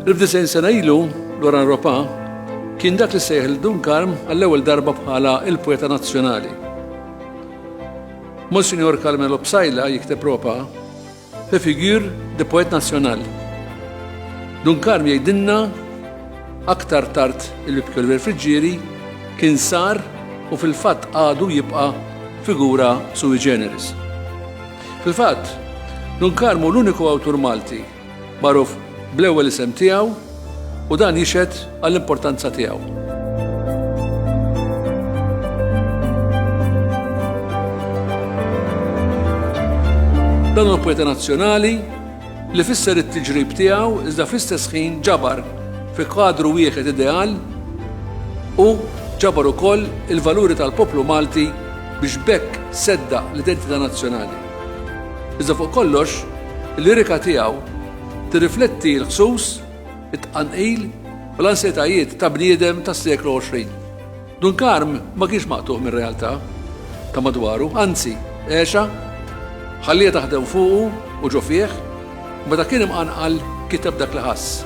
Il-fdisajn sena ilu, Loran Ropa, kien dak li sejħ il-Dun Karm għall-ewwel darba bħala il-poeta nazzjonali. Monsignor Carmelo Psajla jikteb Ropa Fi figure de poète national. Dun Karm jgħidilna aktar tard li Pjolver Friġġieri kien sar u fil-fatt għadu jibqa' figura sui generis. Fil-fatt, Dun Karm hu l-uniku awtur Malti magħruf bl-ewwel isem tiegħu U dan jixhed għall-importanza tiegħu. Dan huwa poeta nazzjonali li fisser it-tiġrib tiegħu iżda fl-istess ħin ġabar fi kadru wieħed ideal u ġabar ukoll il-valuri tal-poplu Malti biex bekk sedda l-identità nazzjonali. Iżda fuq kollox, il-lirika tiegħu Tirrifletti l-ħsus, it-tqanqil u l-ansjetajiet ta' bniedem tas-seklu 20. Dun Karm ma kienx maqtugħ mir-realtà ta' madwaru, anzi, għexha, ħalliha taħdem fuqu u ġo fih, u meta kien imqanqal kiteb dak li ħass.